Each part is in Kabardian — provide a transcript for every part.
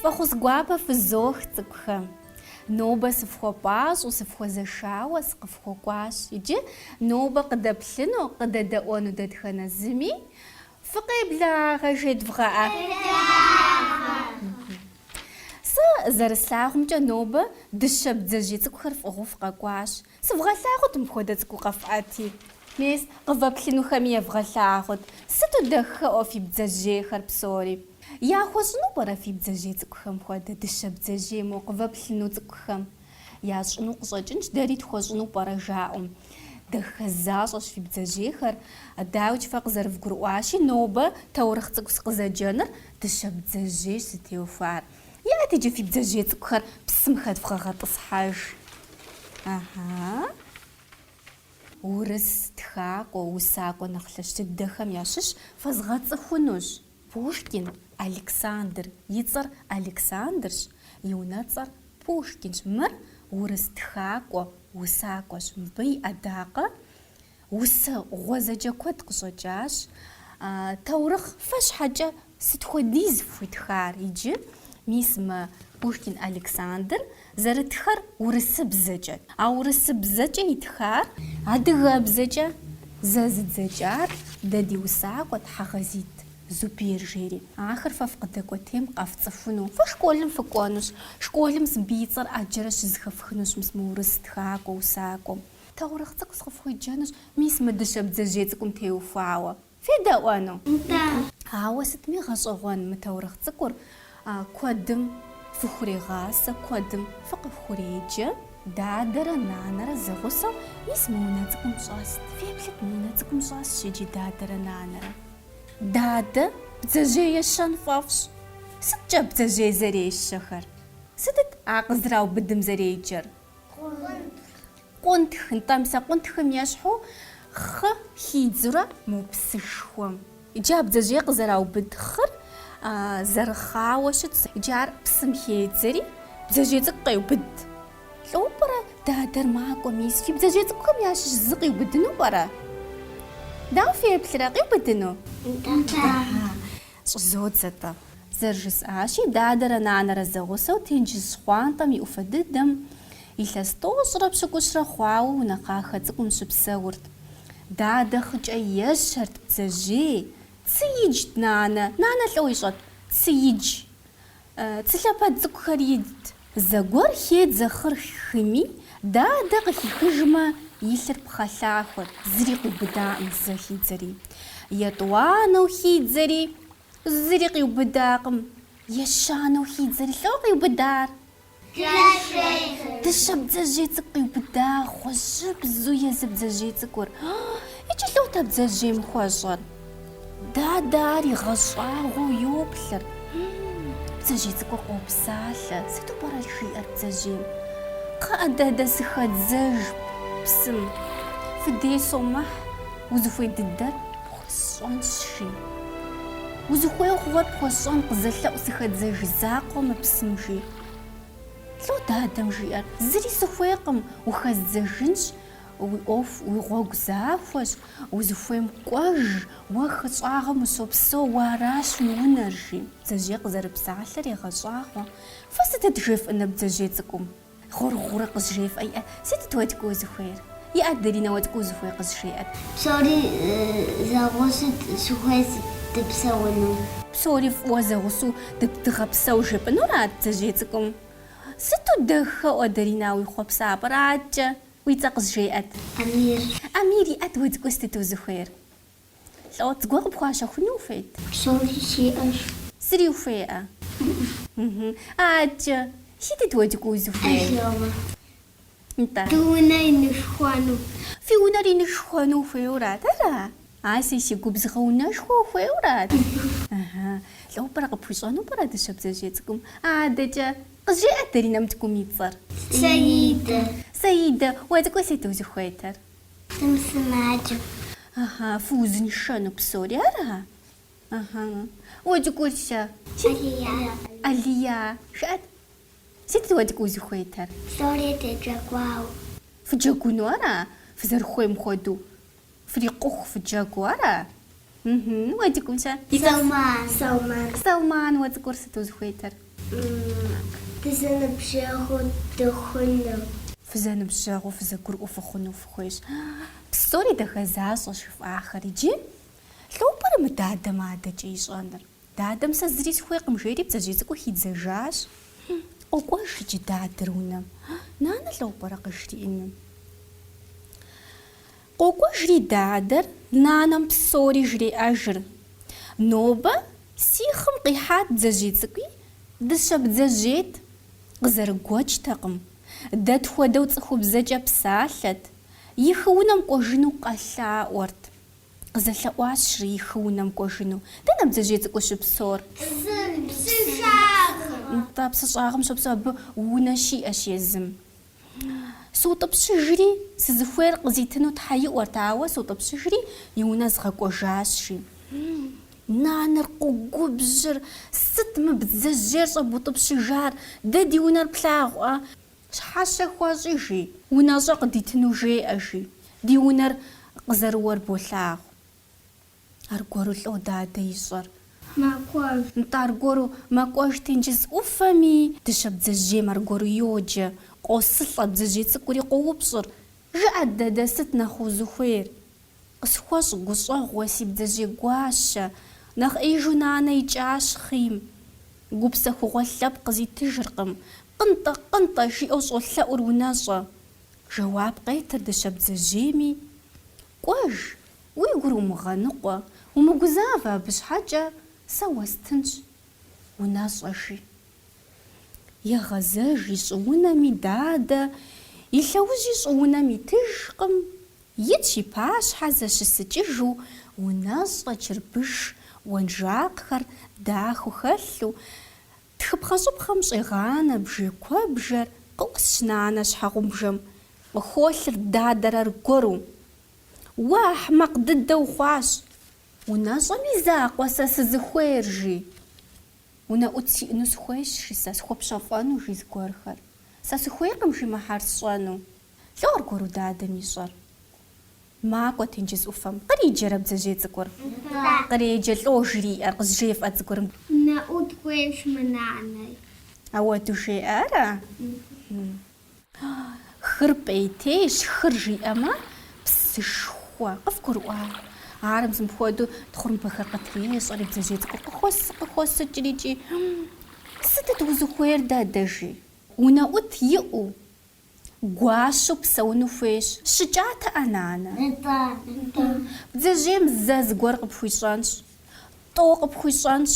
Фӏэхъус гуапэ фызох, цӏыкӏухэ! Нобэ сыфхуэпӏащӏэу, сыфхуэзэшауэ сыкъыфхуэкӏуащ. Иджы нобэ къыдэплъыну, къыдэдэӏуэну дэтхэнэ зыми Фыкъеблагъэ, жедвгъэӏэ. Сэ зэрыслъагъумкӏэ нобэ дыщэ бдзэжьей цӏыкӏухэр фӏыгъыу фыкъэкӏуащ. Сывгъэлъагъут мыпхуэдэ цӏыкӏу къэфӏэти. Мес, къывэплъынухэми евгъэлъагъут. Сыту дахэӏуэ фи бдзэжьейхэр псори. Яхуэщӏыну пӏэрэ фи бдзэжьей цӏыкӏухэм хуэдэ дыщэ бдзэжьей мо къывэплъыну цӏыкӏухэм? Ящӏыну къыщӏэкӏынщ, дэри тхуэщӏыну пӏэрэ жаӏэу. Дахэ защӏэщ фи бдзэжьейхэр. Дауикӏ фэ къызэрывгурыӏуащи, нобэ таурыхъ цӏыкӏу къызэджэныр дыщэ бдзэжьейщ зытеухуар. Ят иджы фи бдзэжьей цӏыкӏухэр псым хэдвгъэгъэтӏысхьэж. Ахьа. Урыс тхакӏуэ, усакӏуэ нэхъ лъэщ дыдэхэм ящыщ фэзгъэцӏыхунущ. Пушкин Александр, и цӏэр Александрщ, и унэцӏэр Пушкинщ. Мыр урыс тхакӏуэ, усакӏуэщ. Мыбы и ӏэдакъэ усэ гъуэзэджэ куэд къыщӏэкӏащ. Таурыхъ фэ щхьэкӏэ сыт хуэдиз фхуитхар иджы? Мис мы Пушкин Александр Зэрытхэр урысыбзэкӏэт, а урысыбзэкӏэ итхар адыгэбзэкӏэ зэзыдзэкӏар дэ ди усакӏуэ Тхьэгъэзит Зубер жери. Ахэр фэ фкъыдэкӏуэтейм къэфцӏыхуну. Фэ школым фыкӏуэнущ. Школым мыбы и цӏэр ӏэджэрэ щызэхэфхынущ мис мы урыс тхакӏуэ усакӏуэм. Таурыхъ цӏыкӏу сыкъыфхуеджэнущ, мис мы дыщэ бдзэжьей цӏыкӏум теухуауэ. Федэӏуэну? Нтӏэ. Ауэ сытми гъэщӏэгъуэн мы таурыхъ цӏыкӏур, куэдым фыхурегъасэ, куэдым фыкъыхуреджэ, дадэрэ нанэрэ зэгъусэу, мис мы унэ цӏыкӏум щӏэст, феплъыт мы унэ цӏыкӏум щӏэсщ иджы дадэрэ нанэрэ. Дадэ бдзэжьей ещэн фӏэфӏщ. Сыткӏэ бдзэжьей зэрещэхэр? Сытыт а къызэраубыдым зэреджэр? къунтх. Къунтх, нтӏэ, мис а къунтхым ещхьу хъы хидзурэ мо псышхуэм. Иджы а бдзэжьей къызэраубыд хъыр зэрыхъауэ щытщ. Иджы ар псым хедзэри, бдзэжьей цӏыкӏу къеубыд. Лӏо пӏэрэ дадэр макӏуэ, мис фи бдзэжьей цӏыкӏухэм ящыщ зы къиубыдыну пӏэрэ? Дауэ феплърэ, къиубыдыну? Нтӏэ. щӏызодзэ-тӏэ. Зэрыжысӏащи, дадэрэ нанэрэ зэгъусэу тенджыз щхъуантӏэм и ӏуфэ дыдэм, илъэс тӏощӏрэ пщыкӏущрэ хъуауэ унэ кхъахэ цӏыкӏум щыпсэурт. Дадэ хъыкӏэ ещэрт, бдзэжьей. Цы иджт, нанэ, нанэ лӏо ищӏэт, цы идж. Цы лъэпэд цӏыкӏухэр идт. Зэгуэр хедзэ хъыр хыми, дадэ къыхихыжмэ, илъыр пхъэлъахуэт, зыри къиубыдаӏым зэ хидзэри. Етӏуанэу хидзэри, зыри къиубыдакъым. Ещанэу хидзэри, лӏо къиубыдар. Дыщэ бдзэжьей цӏыкӏу къиубыда гъуэжьыбзу езы бдзэжьей цӏыкӏур. Иджы лӏотэ бдзэжьейм хуэщӏэр. Дадэ ар игъэщӏагъуэу йоплъыр. Бдзэжьей цӏыкӏур къопсалъэ. Сыту пӏэрэ жиӏэр бдзэжьейм? Кхъыӏэ, дадэ, сыхэдзэж псым. Фи дей сомыхь, узыхуей дыдэр Сщӏэнщи. Узыхуей хъугъуэр пхуэсщӏэн къызэлъэӏу сыхэдзэж закъуэ мы псым, жи. Лӏо дадэм жиӏэр, зыри сыхуейкъым, ухэздзэжынщ, уи ӏуэху, уи гъуэгу захуэщ, узыхуейм кӏуэж, уэ хыщӏагъым ущопсэу, уэ аращ уи унэр, жи. Бдзэжьей къызэрыпсалъэр егъэщӏагъуэ. Фэ сытыт жефӏыныр бдзэжьей цӏыкӏум? Гъур-гъурэ къызжефӏэ иӏэ. Сытыт уэ цӏыкӏу узыхуейр? Иӏэт, Даринэ, уэ цӏыкӏу узыхуейр къызжеӏэт. Псори зэгъусут сыхуей сыт дыпсэуну? Псори фӏыуэ зэгъусу ды- дыгъэпсэу жепӏынурат бдзэжьей цӏыкӏум. Сыту дахэ уэ Дарина уи хъуэпсапӏэр. Адкӏэ? Уи цӏэ къызжеӏэт. Амир. Амир иӏэт уэ цӏыкӏу сытыт узыхуейр? Лӏо, зыгуэ къыпхуащэхуну ухуейт? Псори сиӏэщ. Зыри ухуеӏэ? Ыӏы. Адкӏэ, сытыт уэ цӏыкӏу узыхуейр? Алёмэ. Нтӏэ. Ди унэ инышхуэну. Фи унэр инышхуэну ухуейуэрат, ара? Аси, си губзыгъэ унэшхуэ ухуейуэрат? Ыхьы. Лӏо пӏэрэ къыпхуищӏэну пӏэрэ дыщэ бдзэжьей цӏыкӏум? Адэкӏэ. Къызжеӏэ Даринэм цӏыкӏум и цӏэр. Саидэ. Саидэ, уэ цӏыкӏу сыт узыхуейтэр? Сымысымаджэу. Ыхьы, фыузыншэну псори ара? Ыхьы. Уэ цӏыкӏур-щэ? Алия. Алия, жыӏэт, сыт уэ цӏыкӏу узыхуейтэр? Псори дыджэгуу. Фыджэгуну ара? Фызэрыхуейм хуэдэу фрикъуху фыджэгуу ара? Мхм, уэ цӏыкӏум-щэ? Салман. Салман. Салман, уэ цӏыкӏур сыт узыхуейтыр? Дызэныбжьэгъуу дыхъуну. Фызэныбжьэгъуу, фызэгурыӏуэу фыхъуну фыхуейщ. Псори дахэ защӏэщ жыфӏахэр. Иджы лӏо пӏэрэ мы дадэм адэкӏэ ищӏэныр? Дадэм сэ зыри сыхуейкъым, жери бдзэжьей цӏыкӏур хидзэжащ. Къокӏуэж иджы дадэр унэм. Нанэ лӏо пӏэрэ къыжриӏэну? Къокӏуэжри дадэр нанэм псори жреӏэжыр. Нобэ си хъым къихьат бдзэжьей цӏыкӏуи, дыщэ бдзэжьейт. Къызэрыгуэкӏтэкъым, дэ тхуэдэу цӏыхубзэкӏэ псалъэт, и хы унэм кӏуэжыну къэлъаӏуэрт. Къызэлъэӏуащ жри и хы унэм кӏуэжыну. Дэнэ бдзэжьей цӏыкӏур щыпсор? Зы псы щӏагъым. Нтӏэ, псы щӏагъым щопсэу, абы унэ щиӏэщ езым. Сутӏыпщыжри, сызыхуейр къызитыну Тхьэ иӏуэрт, ауэ сутӏыпщыжри, и унэ згъэкӏуэжащ, жи. Нанэр къогубжьыр, Сыт мы бдзэжьейр щӏэбутӏыпщыжар? Дэ ди унэр плъагъуа? Щхьэщэ хуэщӏи, жи. Унэщӏэ къыдитыну жеӏэ, жи. Ди унэр къызэрыуэр болъагъу. Аргуэру лӏо дадэ ищӏэр. Макӏуэж. Нтӏэ аргуэру макӏуэж тенджыз ӏуфэми, дыщэ бдзэжьейм аргуэру йоджэ, къосылӏэ, бдзэжьей цӏыкӏури къоупщӏыр, Жыӏэт, дадэ, сыт нэхъ узыхуейр? Къысхуэщӏ гущӏэгъу, уэ си бдзэжьей гуащэ, нэхъ ӏейжу нанэ икӏащ хъийм. Гупсэхугъуэ лъэпкъ къызитыжыркъым, Къынтӏэ, къынтӏэ, жиӏэу щӏолъэӏур унэщӏэ. Жэуап къетыр дыщэ бдзэжьейми. Кӏуэж, уи гур умыгъэныкъуэ, умыгузавэ абы щхьэкӏэ сэ уэстынщ унэщӏэ, жи. Егъэзэж и щӏыунэми дадэ, и лъэужьи щӏыунэм итыжкъым, итщ и пащхьэ зэщысыкӏыжу унэщӏэ чырбыш уэнжакъхэр дахэу хэлъу, Тхыпхъэщӏыпхъэм щӏегъанэ бжей куэбжэр къыӏусщ нанэ щхьэгъубжэм, къыхуолъыр дадэр аргуэру. Уэ ахьмэкъ дыдэ ухъуащ! Унэщӏэм и закъуэ сэ сызыхуейр, жи. Унэӏут сиӏэну сыхуейщ, жи сэ, схуэпщэфӏэну, жи зыгуэрхэр. Сэ сыхуейкъым, жи, мыхьэр сщӏэну. Лӏо аргуэру дадэм ищӏэр. Макӏуэ тенджыз ӏуфэм. Къриджэрэ бдзэжьей цӏыкӏур? Нтӏэ. Къреджэ лӏо жриӏэр къызжефӏэ цӏыкӏур? Унэӏут хуейщ мы нанэр. Ауэду жеӏэ, ара? Хыр пӏейтейщ, хыр жиӏэмэ, псышхуэ. Къывгурыӏуа? Ар зы мыпхуэдэу тхъурымбэхэр къытрещӏэри, бдзэжьей цӏыкӏур къыхуосыкӏрикӏи, Сытыт узыхуейр, дадэ? жи. Унэӏут иӏэу, Гуащэу псэуну хуейщ. Щыкӏатэӏэ, нанэ. Нтӏэ. Бдзэжьейм зэ зыгуэр къыпхуищӏэнщ. Тӏо къыпхуищӏэнщ.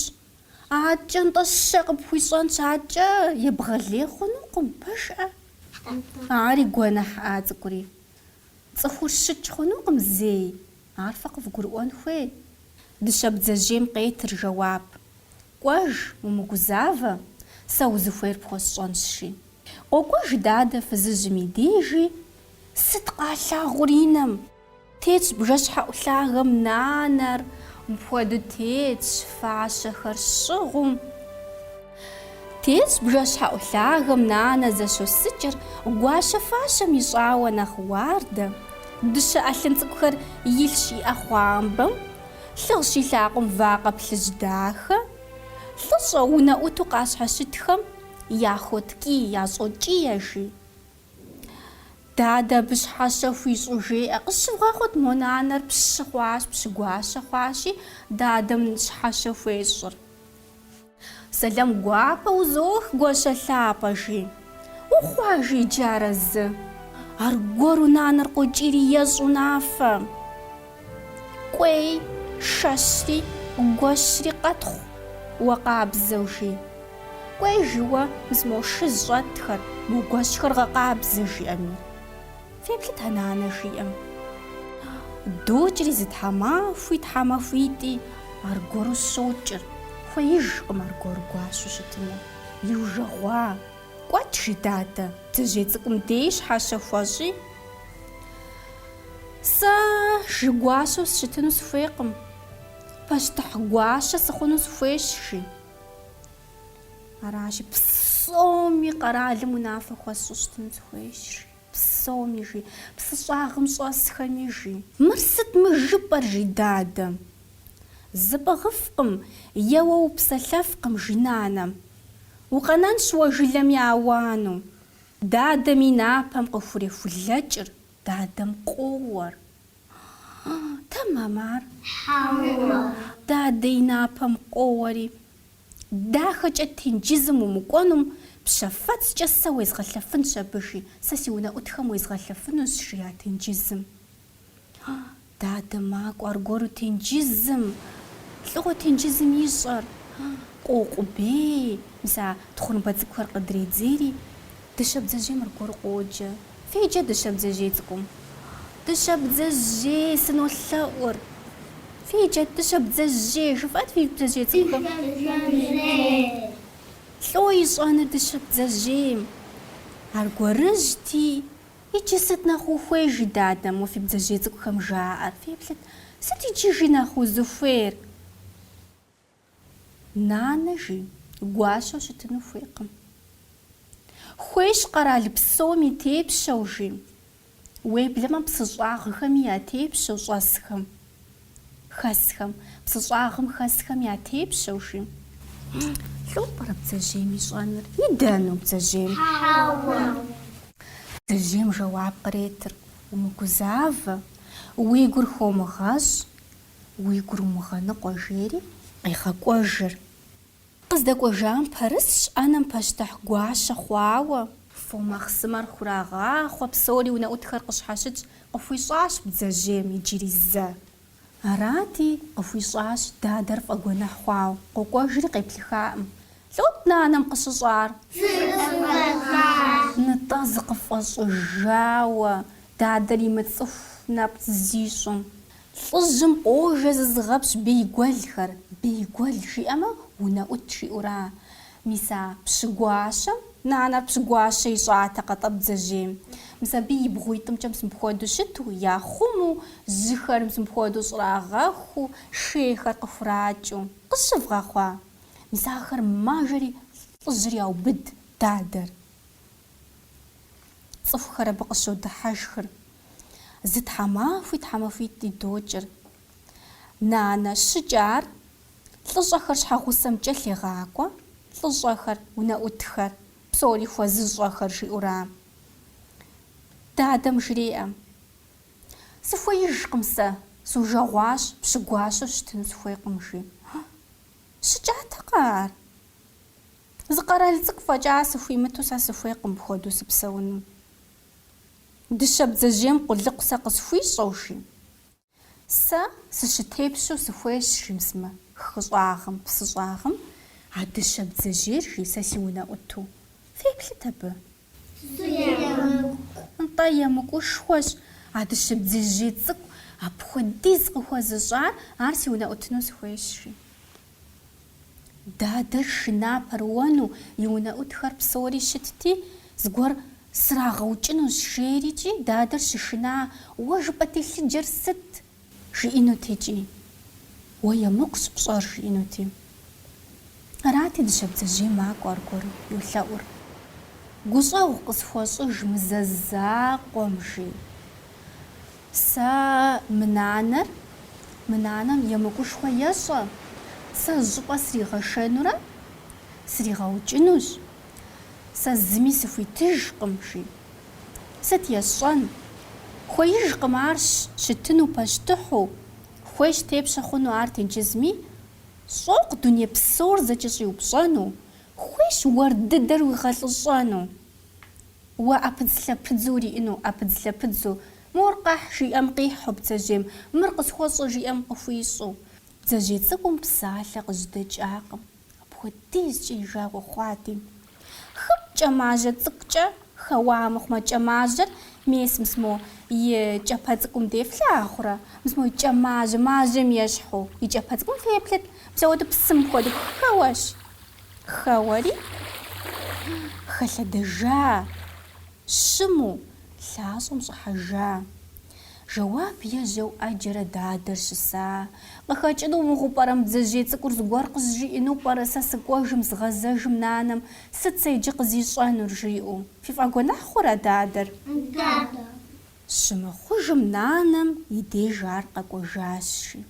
Аткӏэ, нтӏэ, щэ къыпхуищӏэнщ, аткӏэ, ебгъэлей хъунукъым, пэжкъэ? Нтӏэ. Ари гуэныхьыӏа цӏыкӏури. Цӏыхур щыкӏ хъунукъым зэи, ар фэ къывгурыӏуэн хуей. Дыщэ бдзэжьейм къетыр жэуап. Кӏуэж, умыгузавэ, сэ узыхуейр пхуэсщӏэнщ, жи. Къокӏуэж дадэ фызыжьым и дежи, Сыт къалъагъур и нэм? Тетщ бжэщхьэӏу лъагэм нанэр, Мыпхуэдэу тетщ фащэхэр щӏыгъум. Тетщ бжэщхьэӏу лъагэм нанэ зыщосыкӏыр Гуащэ фащэм ищӏауэ нэхъ уардэ. Дыщэ ӏэлъын цӏыкӏухэр илъщ и ӏэхъуамбэм, Лъыгъщ и лъакъум вакъэ плъыжь дахэ, Лӏыщӏэ унэӏуту къащхьэщытхэм яхуоткӏий, ящӏокӏие, жи. Дадэ абы щхьэщэ хуищӏу жеӏэ, Къысщывгъэхъут, мо нанэр пщы хъуащ, пщы гуащэ хъуащи, дадэм щхьэщэ хуещӏыр. Сэлам гуапэ узох гуащэ лъапӏэ, жи. Ухъуа, жи, иджы арэзы. Аргуэру нанэр къокӏийри ещӏ унафэ. Кӏуей, шэщри, гуэщри къэтхъу, уэ къабзэу, жи. Кӏуей, жи, уэ, мыс мо шы зыщӏэтхэр, мо гуэщхэр гъэкъабзэ, жиӏэми. Феплъыт а нанэ жиӏэм. Докӏри зы тхьэмахуи, тхьэмахуитӏи, аргуэру щокӏыр, хуеижкъым аргуэру гуащэу щытыну. Иужэгъуа, кӏуэт, жи дадэ, бдзэжьей цӏыкӏум дей щхьэщэ хуэщӏи, Сэ жи гуащэу сыщытыну сыхуейкъым, пащтыхь гуащэ сыхъуну сыхуейщ, жи. Аращи, псоми къэралым унафэ хуэсщӏу щытыну сыхуейщ, жи. Псоми жи. Псыщӏагъым щӏэсхэми жи. Мыр сыт мы жыпӏэр, жи дадэм. Зыпӏыгъыфкъым, еуэ упсэлъэфкъым, жи нанэм. Укъэнэнщ уэ жылэм я ауану. Дадэм и напэм къыхурехулэкӏыр, дадэм къоуэр. Тэмэм ар? Хьэуэ. Дадэ и напэм къоуэри. Дахэкӏэ тенджызым умыкӏуэнум, пщэфэцкӏэ сэ уезгъэлъэфынщ абы, жи. Сэ си унэӏутхэм уезгъэлъэфынущ, жиӏа тенджызым. Дадэ макӏуэ аргуэру тенджызым. Лӏыгъуэ тенджызым ищӏэр. Къоукъубей, мис а тхъурымбэ цӏыкӏухэр къыдредзейри, Дыщэ бдзэжьейм аргуэру къоджэ. Феджэ дыщэ бдзэжьей цӏыкӏум. Дыщэ бдзэжьей сынолъэӏур. Феджэ дыщэ бдзэжьей, жыфӏат фи бдзэжьей цӏыкӏухэм. Лӏо ищӏэныр дыщэ бдзэжьейм. Аргуэрыжьти, Иджы сыт нэхъ ухуей? жи дадэм, уэ фи бдзэжьей цӏыкӏухэм жаӏэр. Феплъыт, Сыт иджы, жи, нэхъ узыхуейр? Нанэ жи, гуащэу щытыну хуейкъым. Хуейщ къэрал псом и тепщэу жи, уеблэмэ псыщӏагъхэми я тепщэу щӏэсхэм, хэсхэм, псыщӏагъым хэсхэм я тепщэу жи. Лӏо пӏэрэ бдзэжьейм ищӏэныр? Идэну бдзэжьейм? Хьэуэ. Бдзэжьейм жэуап къретыр, умыгузавэ, уи гур хомыгъэщӏ, Уи гур умыгъэныкъуэ, жери къегъэкӏуэжыр. Къыздэкӏуэжам пэрысщ ӏэнэм пащтыхь гуащэ хъуауэ. Фо махъсымэр хурагъахъуэ, псори унэӏутхэр къыщхьэщытщ, къыхуищӏащ бдзэжьейм иджыри зэ. Арати, къыхуищӏащ дадэр фӏэгуэныхь хъуауэ, къокӏуэжри къеплъыххакъым. Лӏот нанэм къыщыщӏар. Зыкъыфӏэщӏыжа? Нытӏэ зыкъыфӏэщӏыжауэ, дадэр имыцӏыху нэпцӏ зищӏым. Лӏыжьым къожэ зызыгъэпщ бейгуэлхэр, бейгуэл жиӏэмэ, унэӏут жиӏэура? Мис а пщыгуащэм нанэр пщыгуащэ ищӏатэкъэ тӏэ бдзэжьейм? Мис абы и бгъуитӏымкӏэ мыпхуэдэу щыту, яхъуму, жьыхэр мыпхуэдэу щӏрагъэхуу, шейхэр къыхуракӏыу. Къыщывгъэхъуа? Мис ахэр мажэри лӏыжьыр яубыд, дадэр. Цӏыхухэр абы къыщодыхьэшхыр. Зы тхьэмахуи тхьэмахуитӏи докӏыр. Нанэ щыкӏар, лӏыщӏэхэр щхьэгъусэм кӏэлъегъакӏуэ, лӏыщӏэхэр, унэӏутхэр, псори хуэзыщӏэхэр, жиӏура? Дадэм жреӏэ, Сыхуеижкъым сэ, сужэгъуащ, пщы гуащэу щытыну сыхуейкъым, жи. Щыкӏатэкъэ ар? Зы къэрал цӏыкӏу фӏэкӏа сыхуимыту сэ сыхуейкъым мыпхуэдэу сыпсэуну. Дыщэ бдзэжьейм къулыкъу сэ къысхуищӏэу жи, сэ сыщытепщэу сыхуейщ, жи мис мы хыщӏагъым, псыщӏагъым а дыщэ бдзэжьейр, жи сэ си унэӏуту. Феплъыт абы. Нтӏэ, емыкӏушхуэщ а дыщэ бдзэжьей цӏыкӏу апхуэдиз къыхуэзыщӏар, ар си унэӏутыну сыхуейщ, жи. Дадэр шына пэрыуэну и унэӏутхэр псори щытти, зыгуэр срагъэукӏынущ, жери икӏи, дадэр щышына, уэ жыпӏэ телъыджэр сыт? Жиӏэнут икӏи. Уэ емыкӏущ пщӏэр жиӏэнути. Арати дыщэ бдзэжьей макӏуэ аргуэру йолъэӏур. Гущӏэгъу къысхуэщӏыж мы зэ закъуэм, жи. Сэ мы нанэр, мы нанэм емыкӏушхуэ ещӏэ, сэ зыщӏыпӏэ сригъэшэнурэ сригъэукӏынущ, Сэ зыми сыхуитыжкъым, жи. Сыт есщӏэн? Хуеижкъым ар щытыну пащтыхьу, хуейщ тепщэ хъуну ар тенджызми, щӏокъу дуней псор зэкӏэщӏиупщӏэну, хуейщ уэр дыдэр уигъэлӏыщӏэну. Уэ ӏэпыдзлъэпыдзу уриӏыну, ӏэпыдзлъэпыдзу, Мор къэхь, жиӏэм къихьу бдзэжьейм, мыр къысхуэщӏэ жиӏэм къыхуищӏу. Бдзэжьей цӏыкӏум псалъэ къыжьэдэкӏакъым. Апхуэдизкӏэ и жагъуэ хъуади. Хым кӏэмажьэ цӏыкӏукӏэ хэуа мыхъумэ, кӏэмажьэр мес мис мо и кӏэпэ цӏыкӏум деж флъагъурэ, мис мо кӏэмажьэ, мажьэм ещхьу и кӏэпэ цӏыкӏум феплъыт, мис ауэду псым хуэду хэуэщ. Хэуэри хэлъэдэжа, щыму лъащӏэм щӏыхьэжа. Жэуап ежьэу ӏэджэрэ дадэр щыса. Къыхэкӏыну мыгъуэу пӏэрэ мы бдзэжьей цӏыкӏур зыгуэр къызжиӏэну пӏэрэ сэ сыкӏуэжым згъэзэжым нанэм сыт сэ иджы къызищӏэнур жиӏэу? Фифӏэгуэныхь хъурэ дадэр? Дадэ. Щымыхъужым нанэм и деж ар къэкӏуэжащи.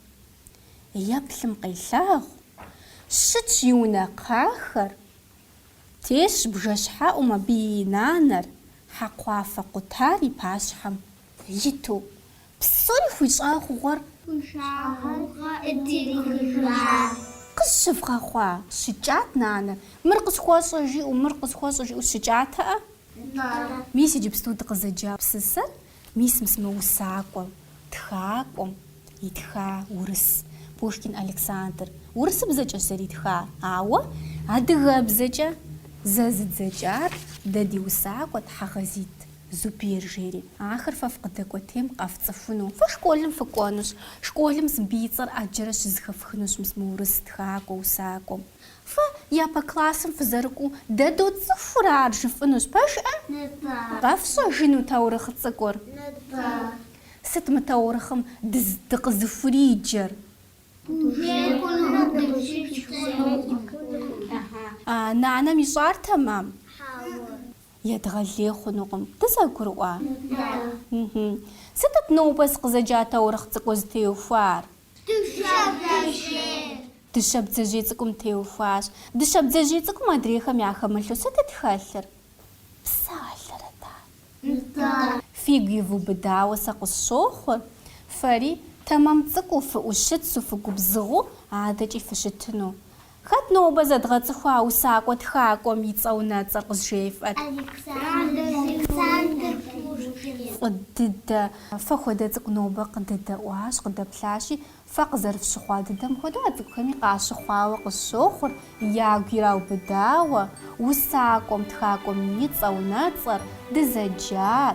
Еплъым къелъагъу. Щытщ и унэ кхъахэр. Тесщ бжэщхьэӏум абы и нанэр, хьэкхъуафэ къутар и пащхьэм Иту, псори хуищӏа хъугъуэр. Пшагъуэ дырихыжащ. Къысщывгъэхъуа? щыкӏат нанэр. Мыр къысхуэщӏэ, жиӏэу, мыр къысхуэщӏэ, жиӏэу щыкӏатэӏэ? Нтӏэ. Мис иджыпсту дыкъызэджа псысэр мис мис мы усакӏуэм, тхакӏуэм итха урыс, Пушкин Александр. Урысыбзэкӏэщ зэритхар, ауэ адыгэбзэкӏэ зэзыдзэкӏар дэ ди усакӏуэ Тхьэгъэзит. Зубер жери, ахэр фэ фыкъыдэкӏуэтейм къэфцӏыхуну. Фэ школым фыкӏуэнущ. Школым абы и цӏэр ӏэджэрэ щызэхэфхынущ мис мы урыс тхакӏуэ усакӏуэм. Фэ япэ классым фызэрыкӏуэу дэ доцӏыхур ар жыфӏынущ, пэжӏэ? Къэфщӏэжыну таурыхъ цӏыкӏур? Сыт мы таурыхъым дыкъызыхуриджэр? Нанэм ищӏар тэмэм? Едгъэлей хъунукъым. Дызэгурыӏуа? Мхм. Сытыт нобэ сыкъызэджа таурыхъ цӏыкӏур зытеухуар? Дыщэ бдзэжьейр. Дыщэ бдзэжьей цӏыкӏум теухуащ. Дыщэ бдзэжьей цӏыкӏум адрейхэм яхэмылъу сытыт хэлъыр? Псалъэрэт, а? Нтӏэ. Фигу ивубыдауэ сэ къысщохъу. Фэри, тэмэм цӏыкӏуу, фыӏущыцу, фыгубзыгъэу адэкӏи фыщытыну. Хэт нобэ зэдгъэцӏыхуа усакӏуэ тхакӏуэм и цӏэ унэцӏэр къызжефӏэт? Александр Пушкин. Фӏы дыдэ, фэ хуэдэ цӏыкӏу нобэ къыдэдэӏуащ, къыдэплъащи, фэ къызэрыфщыхъуа дыдэм хуэдэу а цӏыкӏухэми къащыхъуауэ къысщохъур, ягу ираубыдауэ, усакӏуэм, тхакӏуэм и цӏэ унэцӏэр, дызэджар,